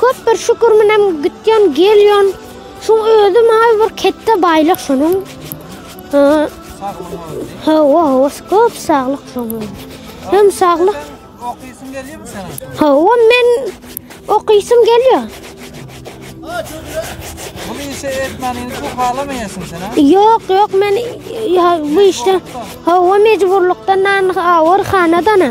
Köp bir şükür menem gitýän, gelýän. Şu özi maňa bir ketde baýlyk şunuň. Hawa, hawa, köp saglyk şoňa. Hem saglyk. Okysyň gelýärmi sen? Hawa, men okysym gelýär. Bu işe etmäniň bu halamaýasyň sen ha? Ýok, ýok, men bu işde hawa mejburlukdan awur hanadana.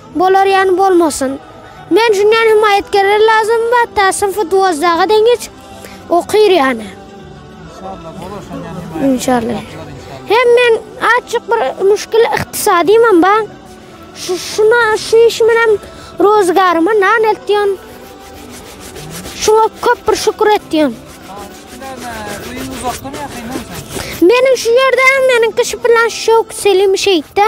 Bolar ýany bolmasyn. Men üçin ýan hemaýatkeler lazym bar, täsin futbolçylara deň geç okyr ýany. Inşallah bolar şan ýan hemaýat. Inşallah. Hem men açyk bir müşkil ykdysadymam bar. Şu şuna şu işim bilen rozgaryma nan eltýän. Şuňa köp bir şükür etýän. Meniň şu ýerde meniň kişi bilen şok selim şeýtde.